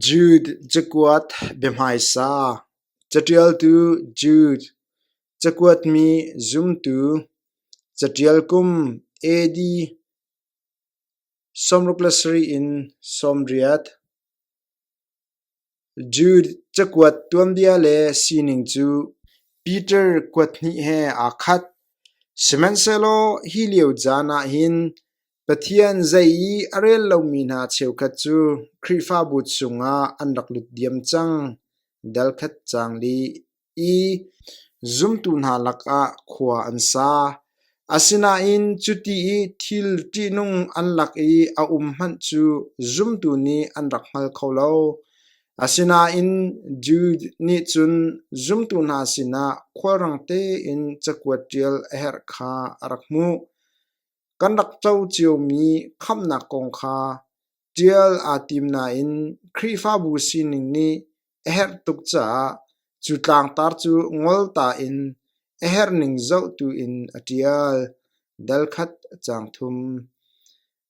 Jude cakuat biahmaisa, caṭialtu Jude, cakuatmi zumtu, caṭial kum AD. sawmruk le sarih in sawmriat. Jude cakuat tuanbia le sining cu Peter kuat hnih he aa khat. Sihmanhsehlaw hi lio caan ah hin Pathian zei i a rel lomi hna cheukhat cu Khrihfabu chungah an rak lut diam cang. Delkhat cang dih i zumtu hna lakah khua an sa. Asinain cuti i thil ṭihnung an lak i a um hmanh cu zumtu nih an rak hngal kho lo. Asinain Jew nih cun zumtu hna sinah khulrang tein cakuat ṭial a herh kha a rak hmuh. Kan rak co ciomi khamhnak kong kha ṭial aa tim nain Khrihfabu sining nih a herh tuk caah cu tlangtar cu ngolta in a herh ning zohtu in a ṭial. Dal khat a cang thum.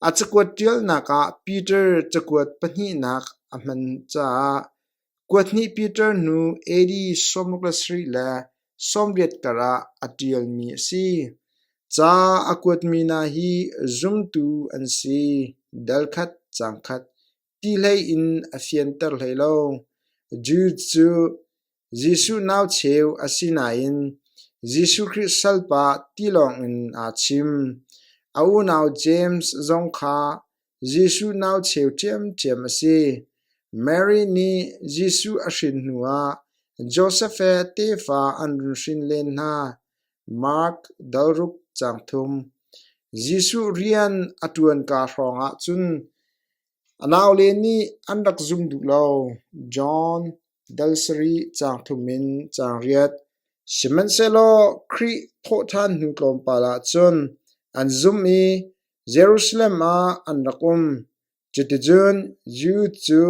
A cakuat ṭialnak ah Peter cakuat pahnihnak a hman caah Kuathnih Peter nu AD sawmruk le sarih le sawmriat karah a ṭialmi a si. Ca a kuatmi hna hi zumtu an si, dal khat, caang khat, ti hlei in a fianter hlei lo. Jews cu Jesuh nau cheu a si nain Jesuh Khrih salpa ti lawngin aa chim. A unau James zong kha Jesuh nau cheu ṭhiamṭhiam a si. Mary nih Jesuh a hrin hnuah Josef he tefa an run hrin len hna. Mark dalruk caang thum. Jesuh rian a ṭuanka hrawngah cun a naule nih an rak zum duh lo. John dal sarih caang thum in caang riat. Sihmanhsehlaw Khrih thawhṭhan hnu tlawmpal ah cun an zumh i Jerusalem ah an rak um. Cuticun Jew cu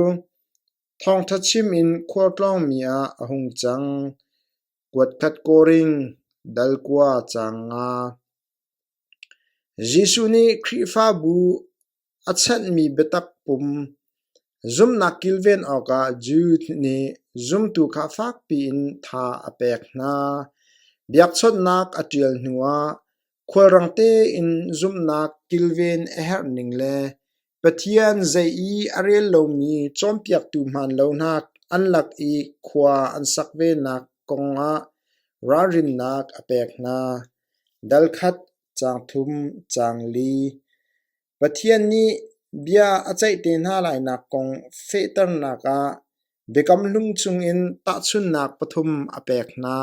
thawngṭha chim in khualtlawngmi ah a hung cang. Kuatkhat kawring dal kua caang nga. Jesuh nih Khrihfabu a chanhmi biatak pum zumhnak kilven awkah Jew nih zumtu kha fakpi in tha a pek hna. Biakchawnhnak a ṭial hnuah Khualrang tein zumhnak kilven a herh ning le Pathian zei i a rel lomi cawnpiaktu hmaan lonak an lak i khua an sak venak kongah ralrinnak a pek hna. Dal khat, caang thum, caang li. Pathian nih bia a ceih te hna lainak kong fehternak ah Biakam Hlung chungin tahchunhnak pathum a pek hna.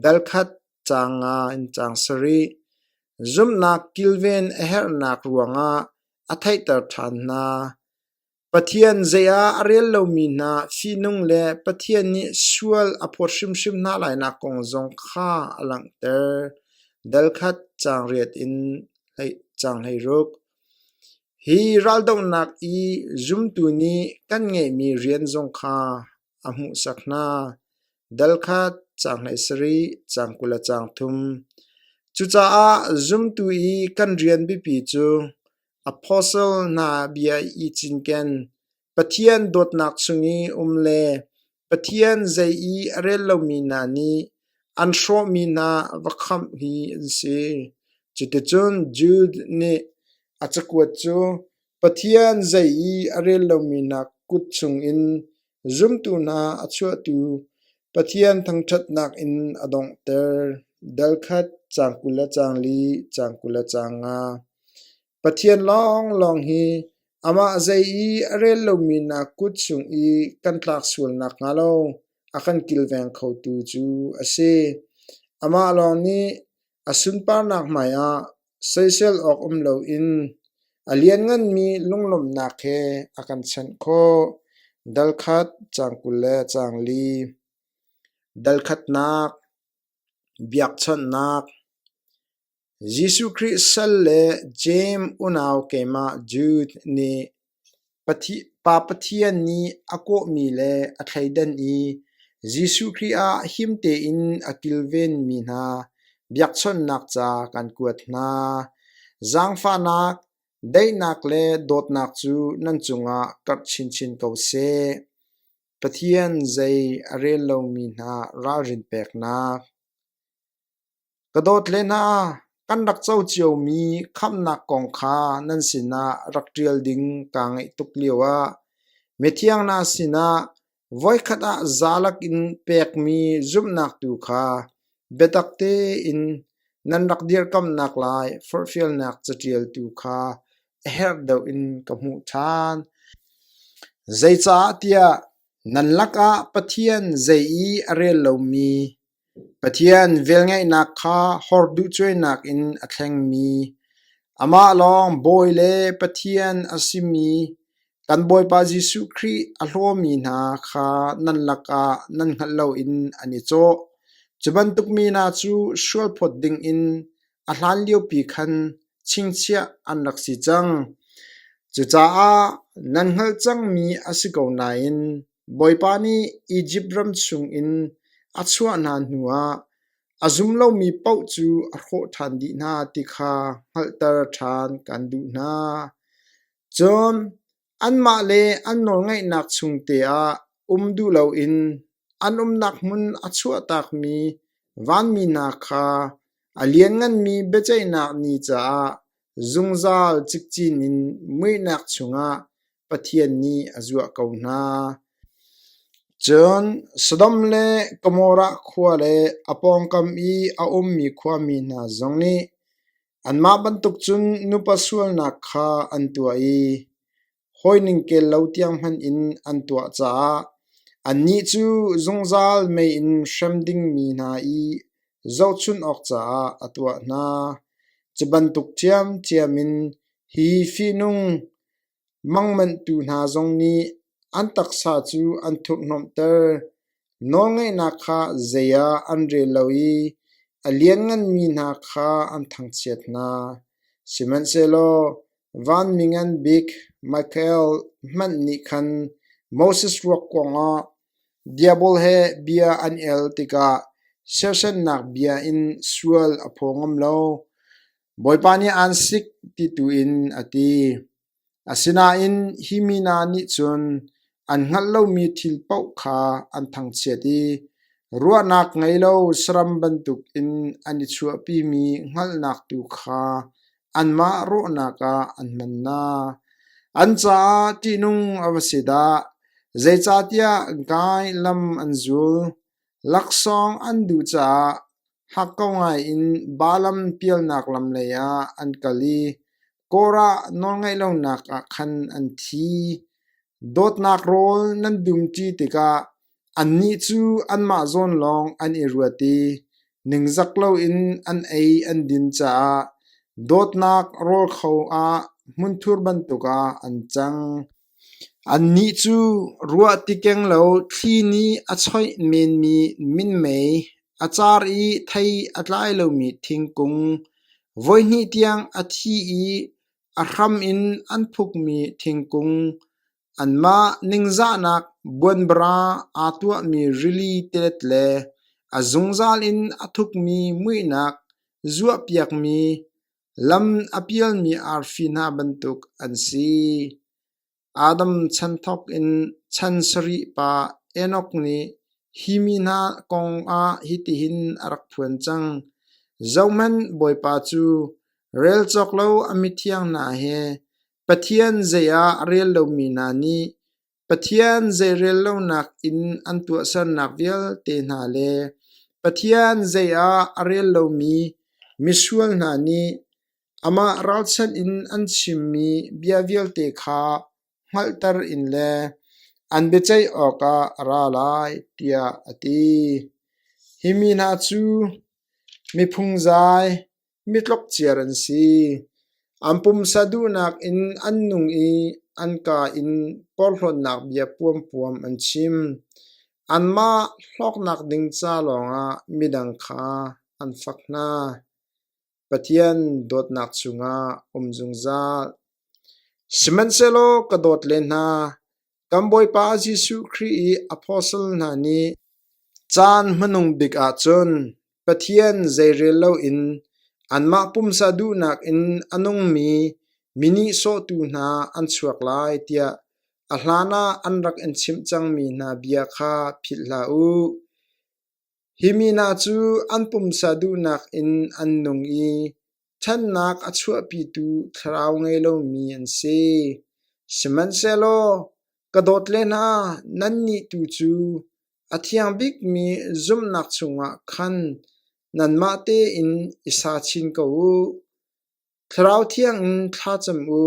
Dal khat caang nga in caang sarih. Zumhnak kilven a herhnak ruangah a theihter ṭhan hna. Pathian zei ah a rel lomi hna fihnung le Pathian nih sual a phawt hrimhrim hna lainak kong zong kha a langhter. Dalkhat caangriat in caanghlei-ruk. Hi raldohnak i zumtu nih kan ngeihmi rian zong kha a hmuhsak hna. Dalkhat caanghlei sarih, caang kul le caang thum. Cucaah zumtu i kan rian biapi cu Apostle hna bia i cinken. Pathian dawtnak chung i um le Pathian zei i a rel lomi hna nih an hrawhmi hna va khamh hi an si. Cuticun Jude nih a cakuat cu Pathian zei i a rel lomi hna kut chungin Zumtu hna a chuahtu Pathian thangṭhatnak in a donghter. Dal khat, caang kul le caang li, caang kul le caang nga. Pathian lawnglawng hi amah zei i a rel lomi hna kut chung i kan tlak sual nakhnga lo a kan kilveng khotu cu a si. Amah lawng nih A sunparnak hmaiah soisel awk um loin a liannganmi lunglawmhnak he a kan chanh khawh. Dal khat, caang kul le caang li. Dal khatnak, biakchawnhnak, Jesuh Khrih sal le Jeim unau keimah Jude nih Pa Pathian nih a kawhmi le a thleidan i Jesuh Khrih ah him tein a kilvenmi hna biakchawnhnak ca kan kuat hna. Zaangfahnak, daihnak le dawtnak cu nan cungah karh chinchin ko seh. Pathian zei a rel lomi hna ralrin peknak. Ka dawt le hna, kan rak co ciomi khamhnak kong kha nan sinah rak ṭial ding kaa ngaih tuk lioah mithiang hna sinah voikhat ah zalak in pekmi zumhnak tu kha biatak tein nan rak dirkamnak lai forhfialnak caṭial tu kha a herh deuh in ka hmuh ṭhan. Zeicahtiah nan lakah Pathian zei i a rel lomi Pathian velngeihnak kha hawrduhcuainak in a thlengmi, amah lawng Bawi le Pathian a simi kan Bawipa Jesuh Khrih a hlawmi hna kha nan lakah nan hngalh loin an i cawh. Cu bantuk mi hna cu sualphawt dingin a hlanliopi khan chingchiah an rak si cang. Cucaah nan hngalh cangmi a si ko nain Bawipa nih Izipt ram chungin a chuah hna hnuah a zum lomi paoh cu a hrawh ṭhan dih hna ti kha hngalhter ṭhan kan duh hna. Cun anmah le an nawlngaihnak chungte ah um duh loin an umnak hmun a chuahtakmi vanmi hna kha a liannganmi biaceihnak ni caah Zungzal cikcin in muihnak chungah Pathian nih a zuah ko hna. Cun Sodom le Gomorrah khua le a pawngkam i a ummi khuami hna zong nih anmah bantuk cun nupa sualnak kha an tuah i hawi ningkel lo tiang hmanh in an tuah caah annih cu zungzal mei in hrem dingmi hna i zohchunh awk caah a tuah hna. Cu bantuk ṭhiamṭhiam in hi fihnung mangmanhtu hna zong nih an taksa cu an thurhhnawmhter. Nawlngeihnak kha zei ah an rel lo i a liannganmi hna kha an thangchiat hna. Sihmanhsehlaw vanmi ngan bik Mikael hmanh nih khan Moses ruak kuangah diabol he bia an el tikah sersannak bia in sual a phaw ngam lo. Bawipa nih aan sik ti tu in a ti. Asinain hi mi hna nih cun an hngalh lomi thil paoh kha an thangchiat i ruahnak ngei lo saram bantukin an i chuahpimi hngalhnak tu kha anmah rawhnak ah an hman hna. An caah ṭihnung a va si dah! Zeicahtiah gai lam an zul, laksawng an duh caah Hakko ngaiin Baalam pialnak lam leiah an kal i Korah nawlngaih lonak ah khan an thi. Dawtnak rawl nan dumṭi tikah annih cu anmah zawn lawng an i ruat i ningzak loin an ei an din caah dawtnak rawl kho ah hmunthur bantukah an cang. Annih cu ruah ti keng lo thli nih a choih menmi minmei, a car i thei a tlai lomi thingkung, voihnih tiang a thi i a hram in an phukmi thingkung, anmah ningzahnak buanbara aa tuahmi rili tilet le a zungzal in a thukmi muihnak zuahpiakmi, Lam a pialmi arfi hna bantuk an si. Adam chan thawkin chan sarih pa Enok nih hi mi hna kong ah hitihin a rak phuan cang: Zohhmanh, Bawipa cu rel cawk lo a mithiang hna he Pathian zei ah rel lomi hna nih Pathian zeirel lonak in an tuahsernak vialte hna le Pathian zei ah a rel lomi misual hna nih amah ralchanh in an chimmi bia vialte kha hngalhter in le an biaceih awkah a ra lai, tiah a ti. Hi mi hna cu miphung zai, mitlok ciar an si. An pumsa duhnak in an nung i an ka in porhlawtnak bia puampuam an chim. Anmah hlawknak ding ca lawngah midang kha an fak hna. Pathian dawtnak cungah um zungzal. Sihmanhsehlaw ka dawt le hna, Kan Bawipa Jesuh Khrih i apostle hna nih caan hmanung bik ahcun Pathian zeirel loin anmah pumsa duhnak in a nungmi mi nihsawhtu hna an chuak lai tiah a hlanah an rak in chimh cangmi hna bia kha philh hlah u. Hi mi hna cu an pumsa duhnak in an nung i ṭhatnak a chuahpitu thlarau ngei lomi an si. Sihmanhsehlaw ka dawt le hna, nannih tu cu a thiang bikmi zumhnak chungah khan nanmah tein i sa chin ko u. Thlarau thiangin thla cam u.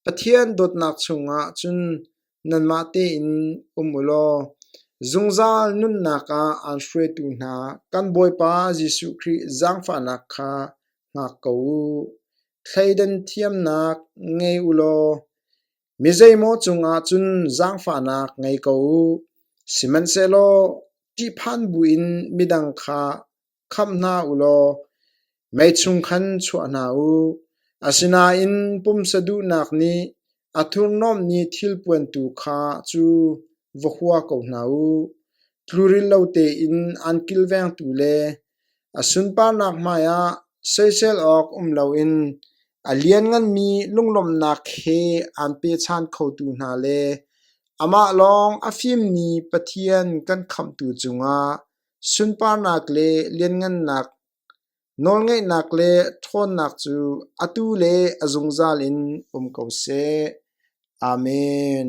Pathian dawtnak chungah cun nanmah tein um u law zungzal nunnak ah aan hruaitu hna kan Bawipa Jesuh Khrih zaangfahnak kha hngak ko u. Thleidan thiamnak ngei u law mi zeimaw cungah cun zaangfahnak ngei ko u. Sihmanhsehlaw ṭihphan buin midang kha khamh hna u law mei chung khan chuah hna u. Asinain pumsa duhnak nih a thurhnawmmi thilpuan tu kha cu va hua ko hna u. Tluril lo tein an kilvengtu le a sunparnak hmaiah soisel awk um loin a liannganmi lunglawmhnak he aan pechan khotu hna le amah lawng a fimmi Pathian kan khamhtu cungah Sunparnak le lianngannak, nawlngeihnak le ṭhawnnak cu atu le a zungzal in um ko seh. Amen.